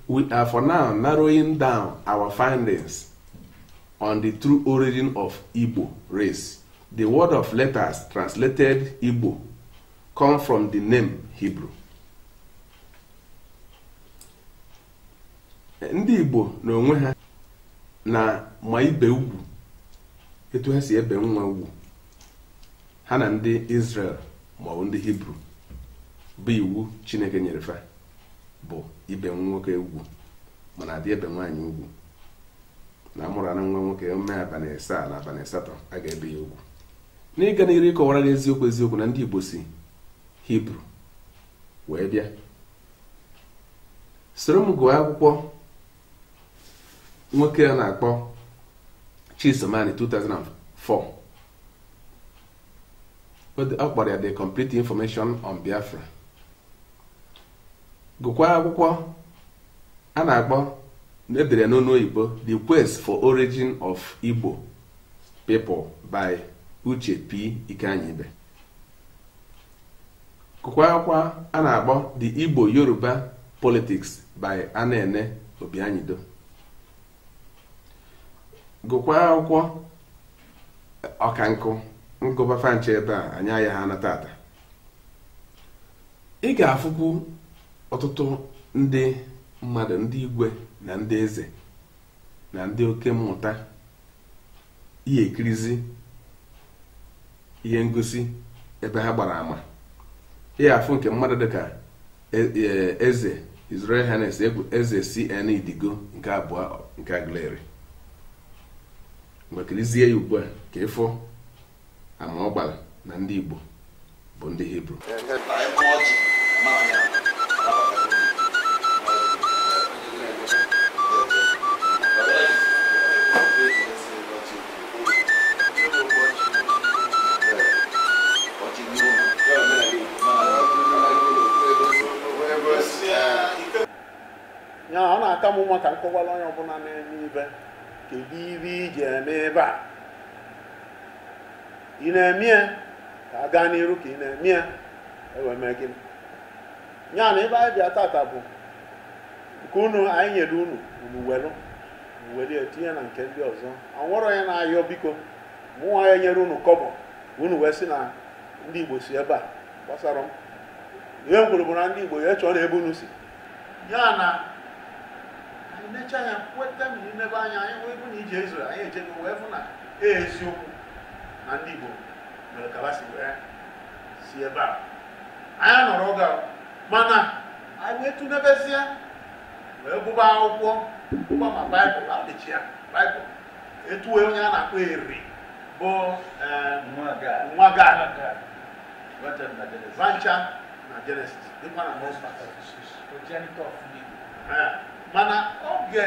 we are for now narrowing down our findings on the true origin of Igbo race. The word of letters translated Igbo come from the name Hebrew. Ndị Igbo n'onwe ha na-ama ibe ugwu etu ha si ebe nwa ugwu ha na ndị Israel maọbụ ndị Hibru bụ iwu Chineke nyere fa bụ ibe nwoke ugwu mana adị ebe nwaanyị ugwu na a mụrụ na nwa nwoke o mee abalị asaa na abalị asatọ a ga-ebe ya ugwu n'ịga n'iru ịkọwara gị eziokwu eziokwu na ndị Igbo si Hibru wee bịa soro m gụọ akwụkwọ nwoke a na-akpọ Chisom Ani 2004 ọ kpọrọ ya the complete information on Biafra gụkwa akwụkwọ a na-akpọ e dere n'ọnụ oyibo the quest for origin of Igbo people by Uche P. Ikeanyibe gụkwa akwụkwọ a na-akpọ the Igbo Yoruba politics by Anene Obianyido gụkwa akwụkwọ ọka nkụ m gụba fa ncha ebe a anyị ayaha ana tata ị ga-afụkwu ọtụtụ ndị mmadụ ndị igwe na ndị eze na ndị oke mmụta ị ya-ekirizi ihe ngosi ebe ha gbara ama ị ga-afụ nke mmadụ dịka e, e, eze His Royal Highness Igwe eze CN Idigo nke abụọ nke Aguleri ngwa kirizie ya ugbu a ka ị fụ ama ọ gbara na ndị Igbo bụ ndị Hibru ya ọ na-aka m mma ka m kọwara onye ọbụla na-eme ive kedu ive i ji eme ive a ị na-eme ya ka a gaa n'iru ka ị na-eme ya e wee mee gịnị ya na ebe anyị bịa tata bụ nke unu anyị nyere unu unu welu welu tinye na nke ndị ọzọ enwerọ onye na-ayọ biko mụnwa ya nyere unu kọbọ unu wee sị na ndị igbo si ebe a gbasarọ m ihe m kwuru bụ na ndị igbo ya chọọ na ebe unu si ya na anyị nechaa anya kweta na imebe anya anyị wee bụ na ije Israel anyị ejego wee fụ na e eziokwu na ndị igbo mere ka ha si wee si ebe a anyị nọrọ oge a mana anyị wee tụnebezie wee gụba akwụkwọ gụba ma baịbụl apịchi ya baịbụl etuwe onye a na-akpọ eri bụ eh, nwa gad va ncha na jenesis dịkwa na mọsta mana oge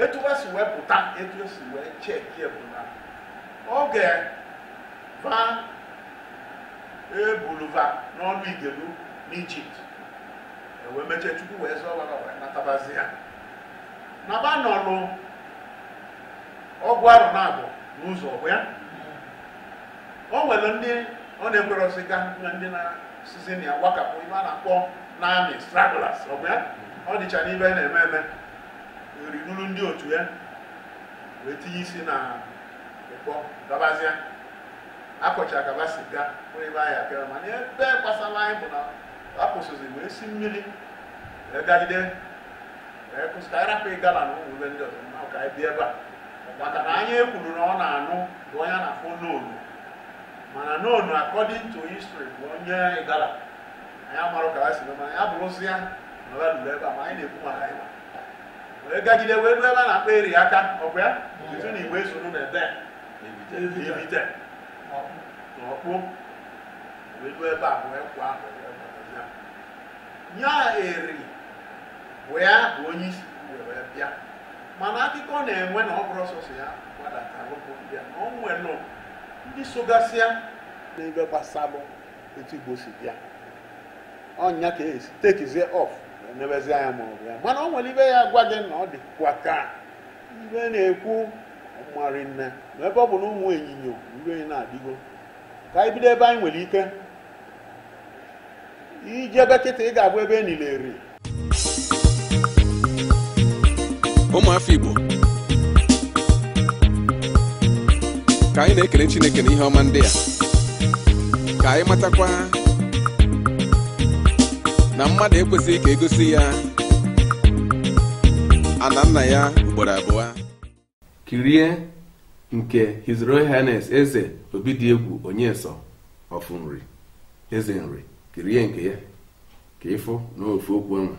etu ha si wee pụta etu esi wee cheki bụ na oge va ebulu va n'ọnụ igelu n'ijipt e wee mechie chukwu wee zọọ va wee natabazịa naba nọlụ ọgụ arọ naabọ n'ụzọ ọ bụ ya o nwere ndị ọ na-ekwerọzi ga na ndị na-asizi na ya wakapụ ive a na-akpọ n'army stragglers ọ bụ ya ọ dịcha n'ive a na-eme eme eri duru ndị otu ya wee tinye isi na ụkpọ gabazịa akọcha gaba siga onye be anyị abịara mana ive gbasara anyị bụ na akwụsịzi wee si mmiri wee gagide wee kwụsị ka anyị rapụ igala na ụmụ ebe ndị ọzọ ma ka anyị bịa ebe a maka na anyị ekwuru na ọ na-anụbu onye a na-akpọ nono mana nono according to history bụ onye igala anyị amarọ ka ha si mee mana ya bụrụzi ya na ọ lụrụ ebe a ma anyị na-ekwu maka anyị wee gagide wee ruo ebe a na-akpọ eri aka ọkwa ya etu na igbe zuru na ebe a, ivite n'ọkpụ E lue ebe a wee kwa ahụ ya. Ya Eri wee bụ onye isi were bịa. Mana akụkọ na-enwe na ọ bụrọ sọsọ ya gbadatalụ pụ bịa na o nwere nụ ndị sogasị ya n'ive gbasalụ etu Igbo si bịa. Ọ nya ka esi takezie off nebezi anya ma ọ bụ ya. Mana o nwere ive ya gwa gị na ọ dịkwa ka ive na-ekwu ọmarị nne ma ebe ọ bụ na ụmụ ịnyịnya uwe na-adịgo ka anyị bido ebe anyị nwere ike ijebe kịta ị ga-afụ ebe e nili eri ụmụ afọ igbo ka anyị na-ekele chineke na ihe ọma ndị a ka anyị matakwa na mmadụ ekwesịghị ka e gosi ya ana nna ya ugboro abụọ kirie nke His Royal Highness eze Obidiegwu Onyeso of Nri eze nri kirie nke ya ka ị fụ na ofu okwu ọnwa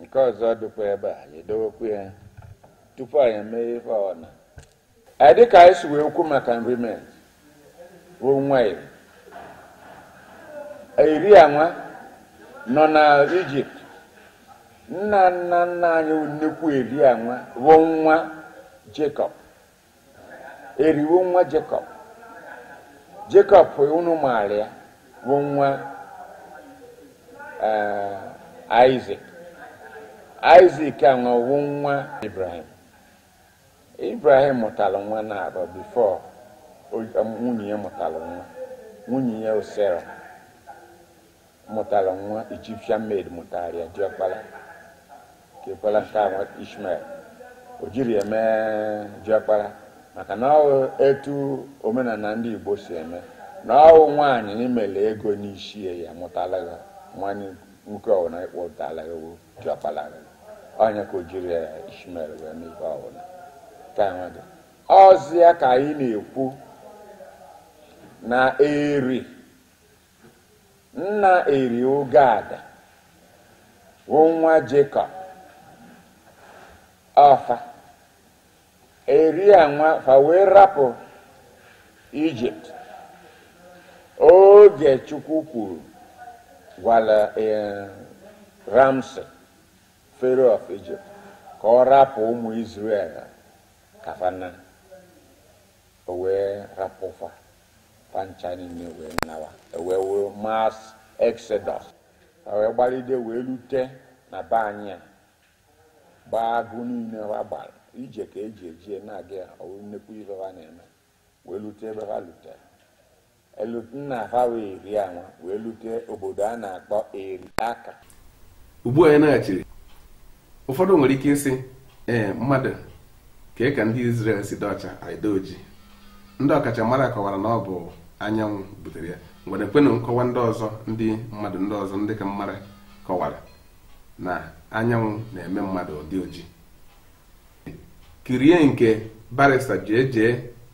nke ọzọ dịkwa ebe a anyị edowekwu ya tupu anyị emee ife ọbụna dịka anyị si wee kwu maka Nri Menri wụ nwa Eri Eri anwa nọ na Egypt nna nna nna anyị nnekwu Eri anwa bụ nwa Jacob Eri wụ nwa Jacob Jacob unu maara ya bụ nwa Isaac Isaac anwa bụ nwa Abraham Abraham mụtara nwa naabọ before nwunye ya mụtara nwa nwunye ya wụ Sarah mụtara nwa Egyptian maid mụtara ya diọkpara kekwara nke ahụ Ishmael o jirọ ya mee diọkpara maka na ọwụ etu omenala ndị Igbo si eme na ọwụ nwaanyị i melu ego n'isi ya mụtara gị nwa nwoke ọwụ na ị kpọtara ya diọkpala gị onye ka o jiri Ishmael wee mee ife ọbụna ka enwe gị ọzi ya ka anyị na-ekwu na Eri nna Eri ọ Gad bụ nwa Jacob ọ fa Eri anwa fa wee rapụ Egypt oge chukwu kwuru gwara eh, Ramses Pharaoh of Egypt ka ọ rapụ ụmụ Israel ka fa naa o wee rapụ fa fa ncha niile wee nawa e wee wee mass exodus fa wee gbalide wee lute na be anyị a gbaa agụ niile ha gbara ije ka e ji eje na-aga ya ọwụ nnekwu ife ha na-eme wee lute ebe ha lutelu nna ha wụ Eri anwa wee lute obodo a na-akpọ Eri Aka ugbu a anyị naghachiri ụfọdụ nwere ike ịsị ee mmadụ kee ka ndị Israel si dị ọcha anyị adị oji ndị ọkachamara kọwara na ọ bụ anyanwụ butere ya e nwerekwanụ nkọwa ndị ọzọ ndị mmadụ ndị ọzọ ndị ka m mara kọwara na anyanwụ na-eme mmadụ ọ dị oji kirie nke barrister JJ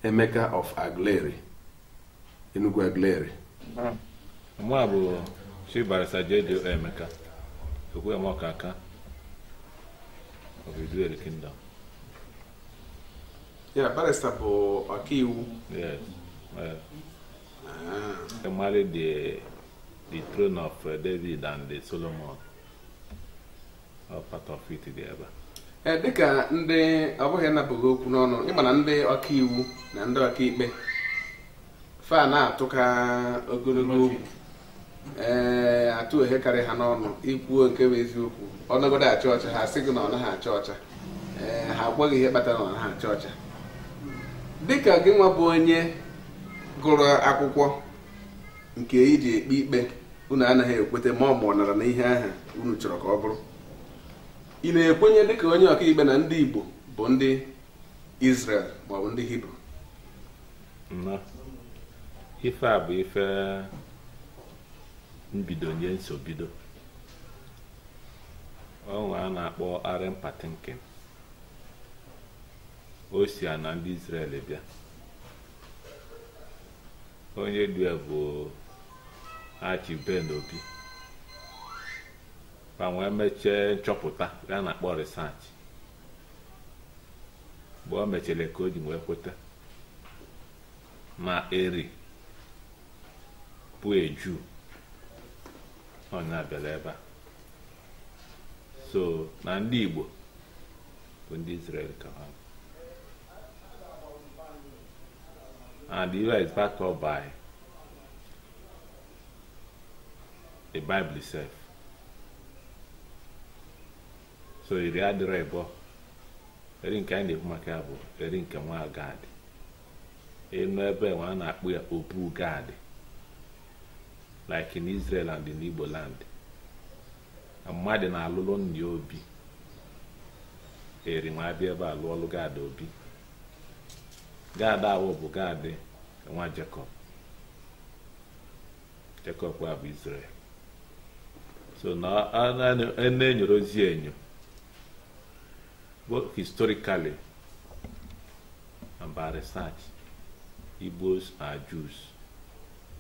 Emeka of Aguleri Enugwu Aguleri mụ bụ chief barrister JJ Emeka okwu ya mọka aka of Iduu Eri Kingdom yeah barrister bụ ọkaiwu Ị malị the, the throne of uh, David and the Solomon. All part of it dị ebe a. Ee, dịka ndị ọ bụghị ịnapụ gị okwu n'ọnụ ị ma na ndị ọka iwu na ndị ọka ikpe fa na-atụka ogologo okwu ee atụ ohe karị ha n'ọnụ i kwuo nke bụ eziokwu ọ nọgodu acha ọcha ha sị gị na ọ naghị acha ọcha ee ha agwa gị ihe kpatara na ọ naghị acha ọcha dịka gị nwa bụ onye gụrụ akwụkwọ nke i ji ekpe ikpe unu anaghị ekweta ma ọ ma ọ nara na ihe ahụ unu chọrọ ka ọ bụrụ ị na-ekwenye dịka onye ọkaikpe na ndị Igbo bụ ndị Israel maọbụ ndị Hibru nnọọ ife a bụ ife mbido nye nsobido onye a na-akpọ Aren Patinkin o si ana ndị Israel bịa onye du ya bụ Achi Ben Obi ma wee mechie nchọpụta ya na-akpọ research mgbe o mechele ka o ji wee kweta na Eri bụ a Jew onye bịala ebe a so na ndị Igbo bụ ndị Israel ka ha and it is backed up by the Bible itself so Eri adịrọ ịbọọ Eri nke anyị na-ekwu maka ya bụ Eri nke nwa Gad ị nụ ebe nwa a na-akpọ ya Obu Gad like in Israel and in Igbo land mmadụ na-alụlụ nna ya obi Eri nwa abịa ebe a lụọlụ Gad obi Gad awụ bụ Gad nwa Jacob Jekọb a bụ Izrel so na a na-enyoro ozi enyo both historically and by research Igbos are Jews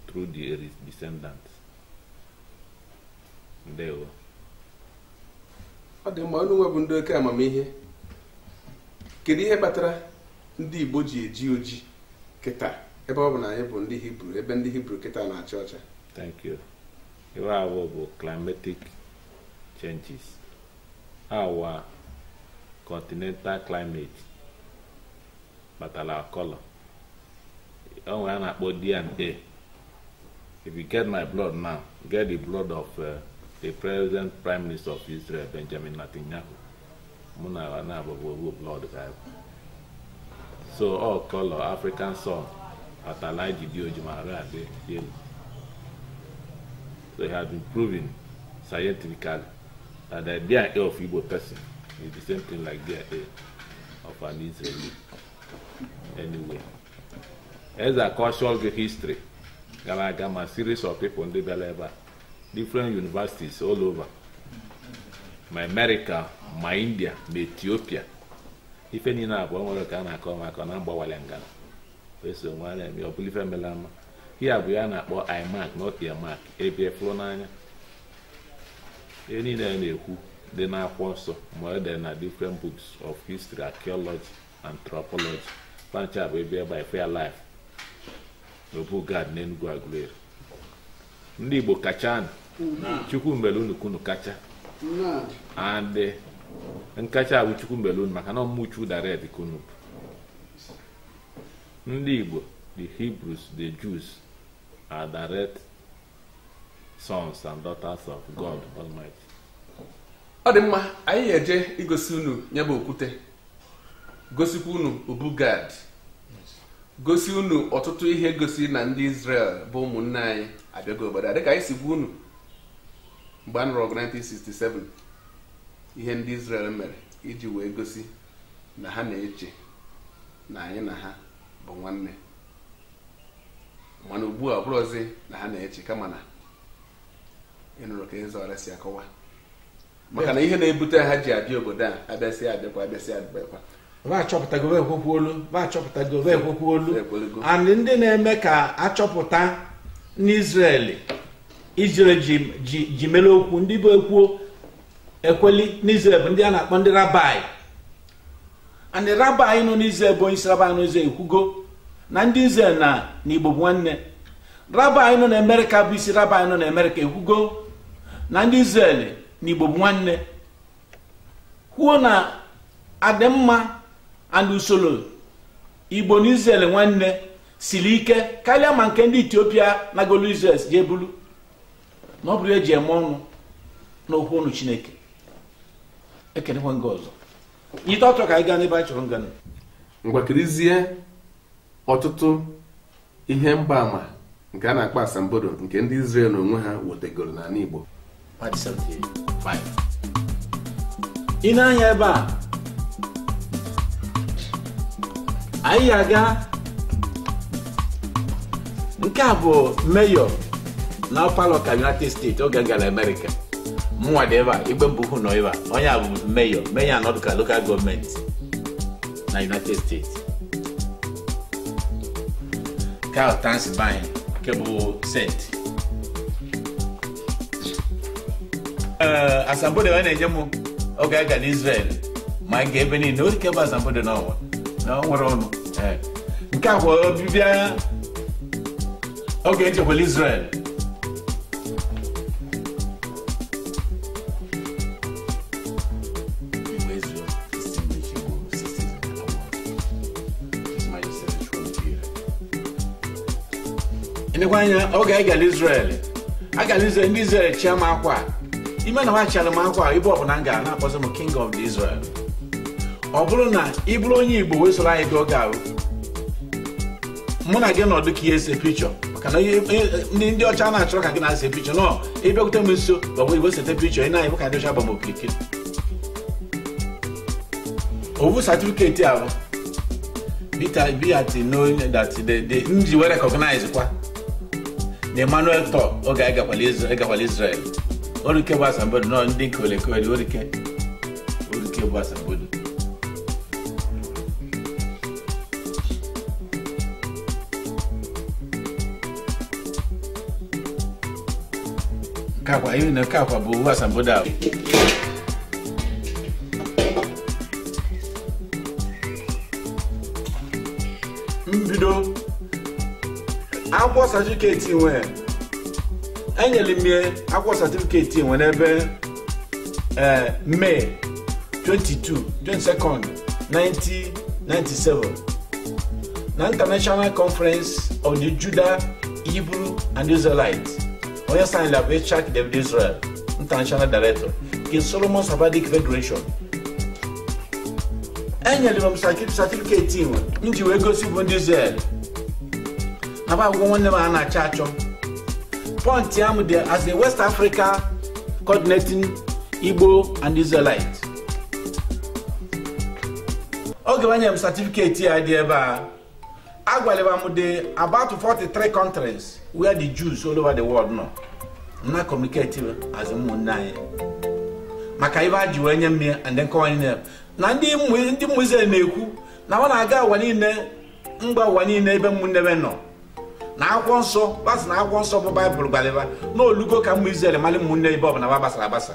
through the descendants ndewo ọ dị mma unu nwa bụ ndị oke amamihe kedu ihe kpatara ndị Igbo ji eji oji kịta ebe ọ bụ na anyị bụ ndị Hibru ebe ndị Hibru kịta na-acha ọcha thank you iwe awụ bụ climatic changes our continental climate kpatara our colour o nwere a na-akpọ DNA if you get my blood now get the blood of uh, the present prime minister of Israel Benjamin Netanyahu mụ na ya abụbụ ofu blood ka ọ ya-abụ. so our colour African sun kpatara anyị ji dị oji ma arụ adị dị elu so it has been proven scientifically that the DNA of Igbo person is the same thing like DNA of an Israeli anyway as a cultural history gara aga ma series of people ndị bịara ebe a different universities all over ma America ma India ma Ethiopia ife niile a bụ o nwere ka a na-akọ maka na agbawala ngana wee so nwa na-eme ọ bụla ife mere ama ya bụ ihe a na-akpọ eye mark not ear mark ebe fụrụ n'anya ihe niile a na-ekwu dị n'akwụkwọ nsọ ma ihe dị na different books of history archaeology anthropology fa ncha bụ bịa ebe a fụ ya live n'obu gad n'Enugu Aguleri ndị Igbo kacha nụ chukwu mebelu unu ka unu kacha and eh, nkacha bụ chukwu mebelu unu maka na ọ bụ ụmụ chukwu direct ka unu bụ ndị igbo the hebrews the jews are direct sons and daughters of god almighty ọ dị mma anyị ga-eje igosi unu ya bụ okwute gosikwa unu obu gad gosi unu ọtụtụ ihe gosi na ndị Israel bụ ụmụnne anyị abịago obodo a dịka anyị si gwa unu mgbe a nụrụ ọgụ 1967 ihe ndị Israel mere iji wee gosi na ha na-eche na anyị na ha bụ nwanne mana ugbu a ọ bụrọzi na ha na-eche kama na ị nụrụ ka Eze Eri si akọwa maka na ihe na-ebute ha ji abịa obodo a abịasị abịakwa abịasị abịakwa va achọpụtago va ekwekwolu va achọpụtago va ekwekwolu Ekwelego. and ndị na-eme ka achọpụta n'Israel Israel ji ji ji mere okwu ndị bụ ekwuo ekweli n'Izrel bụ ndị a na-akpọ ndị rabai and the rabai nọ n'Izrel bụ onye isi rabai nọ n'Izrel ekwugo na ndị Izrel na Igbo bụ nwanne rabai nọ na Amerịka bụ isi rabai nọ na Amerịka ekwugo na ndị Izrel na Igbo bụ nwanne kwuo na adịmma and usoro Igbo na Izrel nwanne siri ike karịa ma nke ndị Etiopia nagolu Izrel je bulu na ọ bụrụ ihe eji eme ọnụ n'okwu ọnụ chineke ekenekwa m gị ọzọ nyite ọtọ ka anyị gaa n'ebe anyị chọrọ ịga ngwa kirizie ọtụtụ ihe mgbaama nke a na-akpọ asambodo nke ndị Israel n'onwe ha wetegoro n'ala Igbo ị nee anya ebe a anyị aga nke a bụ mayor na Opa-locka United State oge m gara America mụnwa dị ebe a igbe mbụ hụ nọ ebe a onye a bụ mayor mayor anọdụ ka local government na united states nke ahụ Transylvania nke bụ Saint ee asambodo nwa na-enye m oge a gara Israel ma nke ebe niile ọ dị ke bụ asambodo n'ọnwa na ọ nwere ọnụ Ee. nke a bụ ọbịbịa oge e jekwala Israel nekwa anya oge anyị gara Israel agara Israel ndị Israel chịa m akwa ime na ba chịara m akwa ebe ọbụla m gara na-akpọzi m king of the Israel ọ bụrụ na ị bụrụ onye Igbo wee soro anyị gaa oge ahụ mụ na gị nọdụ ka e see pichọ maka na ndị ndị ọcha na-achọrọ ka gị na-ese pichọ na ị bịakwute m nso gbagbo igwe sete pichọ ị na-anyị ka ndị ọcha gba m okirikiri ọ wụ satifiketi ahụ Peter Ibiati knowing that the, the nji were recognize kwa na Emmanuel Tor oge anyị gakwala Isra- gakwala Israel ọ rị ke bụ asambodo na ọ dị nke olekole ọ rị ke ọ rị ke bụ asambodo nke akwa ihe na nke akwa bụ uwe asambodo ahụ mbido akwụkwọ satifiketi nwa e nyere m ya akwụkwọ satifiketi nwa n'ebe ee May 22 22nd 1997 na international conference of the Judah Hebrew and Israelite onye signed ya bụ Yitzhak David Israel, International Director, King Solomon Sephardic Federation. E nyere m satifiketi nwa e ji wee gosi bụ ndị Israel na ba afụgo nwanne ba na-achọ achọ pọntịa m dị as a West Africa coordinating Igbo and Israelite oge ba nyere m satifiketi ya dị ebe a a gwalị ba m dị about 43 countries where the Jews all over the world nọ na communicate as ụmụnne anyị maka ibe a ji wee nye m ya and then ka ụwa niile na ndị ụmụ- ndị ụmụ Izrel na-ekwu na ba na-aga ụwa niile mba ụwa niile ebe ụmụnne be nọ na akwụkwọ nsọ ba sị na akwụkwọ nsọ bụ baịbụl gwalị ba na o lugo ka ụmụ Izrel mali ụmụnne ebe ọbụla ba gbasara agbasa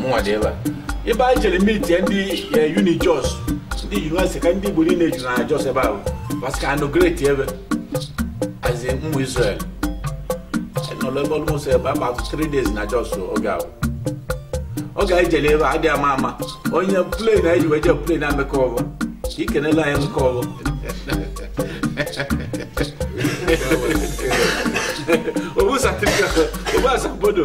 mụnwa dị ebe a ebe anyị jere meeting ndị eh, uni jos ndị yunivesiti ka ndị igbo niile juru na jos ebe ahụ masị ka a inaugurate ebe as ụmụ israel nọrọ ebe almost about 3 days na jos oge ahụ oge anyị jere ebe a adịghị ama ama onye plane anyị ji wee jee plane emeka ọgụ ka ikenela anyị emeka ọgụ ọ bụ satifiketi ọ bụ asambodo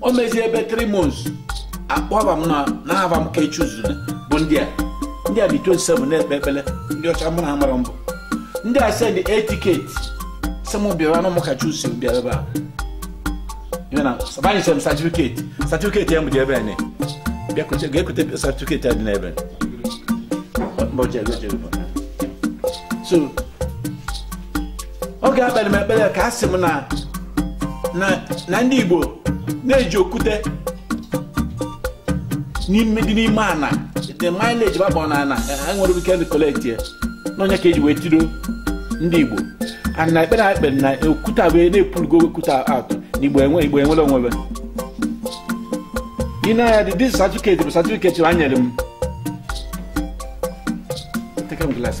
o mezie ebe 3 months akpọba m na na-aba m ka echuzuna bụ ndị a ndị a dị 27 na-ekpe ekpele ndị ọcha mụ na amara mbụ ndị a send a ticket sị m bịara na mụka chusi bịara ebe a ihe na sabanyesịrị m satifiketi satifiketi ya m dị ebe a ne bịakwute ga-ekwute satifiketi a dị n'ebe a. so oge ekpere m ekpere ka a sị m na na ndị Igbo na-eji okwute n'ime dị n'ime ana the mileage babọ na ana enwere ike ndị collect ya n'onye ka eji wee tido ndị Igbo ana ekpere akpe na okwute wee na-epurugo okwute atụ na Igbo enwe Igbo enwere onwe be ị na ya dị this certificate bụ certificate ha nyere m Take a glance,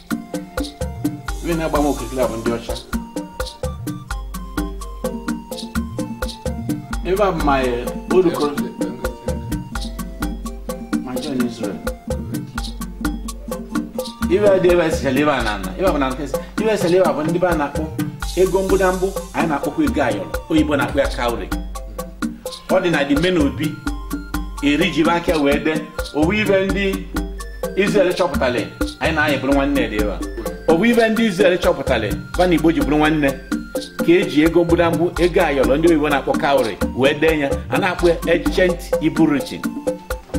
Ndị na-agba m okirikiri a bụ ndị ọcha. Ebe a bụ my eh, old co- my journey in Israel. Ibe a dị ebe a sichara ebe a na ana. Ebe a bụ na nke si. Ibe a sichara ebe a bụ ndị be a na-akpọ ego mgbụdambụ anyị na-akpọkwa ego ayọrọ oyibo na-akpọ ya cowry. Ọ dị na dị ime n'obi Eri ji be aka wee dee ọ bụ ibe ndị Israel chọpụtara anyị na anyị bụrụ nwanne dị ebe a. ọ bụ ibe ndị Israel chọpụtara ba na Igbo ji bụrụ nwanne ka eji ego mgbudamgbu ego ayọrọ ndị oyibo na-akpọ cowry wee dee ya a na-akpọ ya ancient Hebrew writing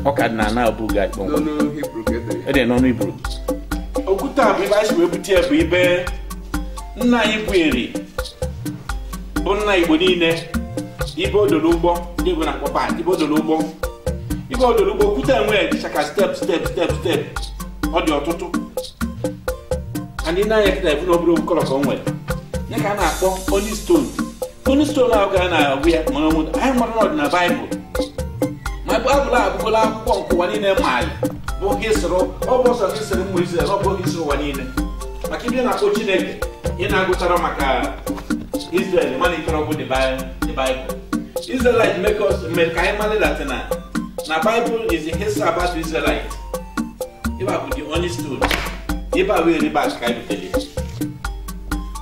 ọ ka dị na ana Obu Gad kpọmkwem n'ọnụ Hebrew ka e dere ya. e de n'ọnụ Hebrew okwute a bụ ibe anyị si wee bute ya bụ ibe nna anyị bụ eri bụ nna igbo niile ibe o doro ụgbọ ndị oyibo na-akpọ berth ibe o doro ụgbọ ibe o doro ụgbọ okwute enwe dịcha ka step step step step ọ dị ọtụtụ and ị nee anya kịta ị fụ na ọ bụrọ ofu kọlọ ka o nwere ya ka a na-akpọ onyx stone Onyx stone ahụ ka a na-agụ ya mara nwụta anyị mara na ọ dị na baịbụl ma baịbụl a abụgola akwụkwọ nke ụwa niile maali bụ history ọ bụrọ sọ history ụmụ Izrel ọ bụ history ụwa niile maka ibe na-akpọ Chineke ị na-agụchara maka Izrel mana ikere ọgwụ dị baịbụl Israelite make us mere ka anyị mara that na na Bible is the history about Israelite ịba bụ the only story ịba wee riba ka anyị butere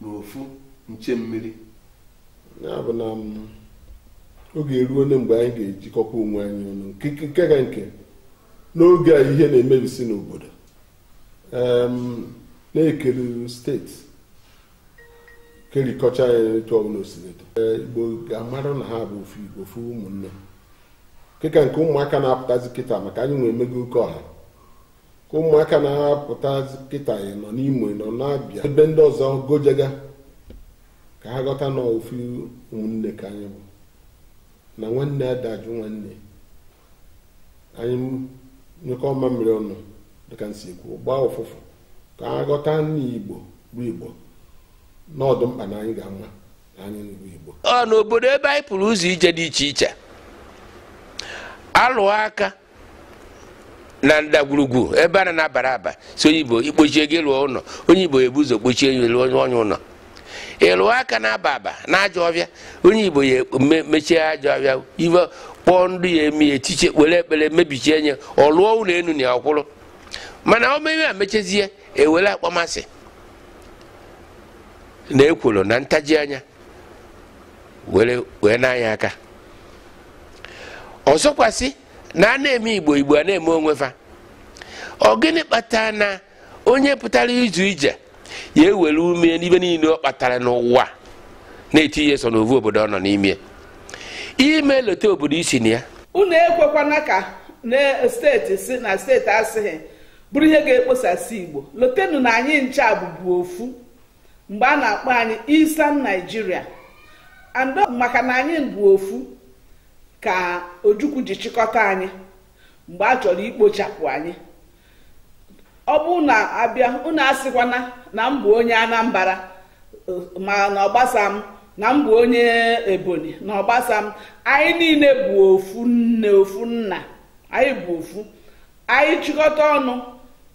na ofu nche mmiri ya bụ na mm, oge eruona mgbe anyị ga-ejikọkwa onwe anyị ọnụ nke ka nke n'oge a ihe na-emebisi n'obodo em, na e kere steeti kerikọcha ya etu ọbụla o sila dị igbo ga-amara na ha bụ ofu igbo ofu ụmụnne ke ka nke ụmụaka na-apụtazi kịta maka anyị nwa emego oke ọha ka ụmụaka na-apụta kịta ị nọ n'imo ị nọ n'abịa ebe ndị ọzọ gojega ka ha ghọta na ofu ụmụnne ka anyị bụ na nwanne ada ajụ nwanne anyị nyụkọọ mamịrị ọnụ dịka nsi ekwu ọ gbaa ụfụfụ ka ha ghọta na igbo bụ igbo na ọ dụ mkpa na anyị ga-ama na anyị bụ igbo ọ n'obodo ebe anyị pụrụ ụzọ ije dị iche iche alụ aka na ndagwurugwu ebe a na na-abara aba si onye igbo i kpochie gị lụọ ụlọ onye igbo ebu ụzọ kpochie ya lụọ onye onye ụlọ ị lụọ aka na-aba aba na ajọ ọfịa onye igbo ya me- mechie ajọ ọfịa iwe kpọọ ndụ ya eme ya etiche were ekpere mebichie nye ọ lụọ ụlọ enu na ya ọ kwụrụ mana o mewe emechazie ewere akpọmasị na ekworo na ntaji anya were wee na-anya aka ọzọkwa sị na a na-eme igbo igbo a na-eme onwe fa ọ gịnị kpatara na onye pụtara ụzọ ije ya ewere ume n'ife niile ọ kpatara n'ụwa na-etinye sọ n'ovu obodo ọ nọ n'ime i mee lote obodo i si na ya unu ekwekwana ka na steeti sị na steeti asịghị bụrụ ihe ga-ekposasị igbo lotenu na anyị ncha bụbu ofu mgbe a na-akpọ anyị Eastern Nigeria and maka na anyị bụ ofu ka Ojukwu ji chịkọta anyị mgbe a chọrọ ikpochapụ anyị ọ bụ na a bịa unu asịkwana na m bụ onye Anambra na ọ gbasa m na m bụ onye Ebonyi na ọ gbasa m anyị niile bụ ofu nne ofu nna anyị bụ ofu anyị chịkọta ọnụ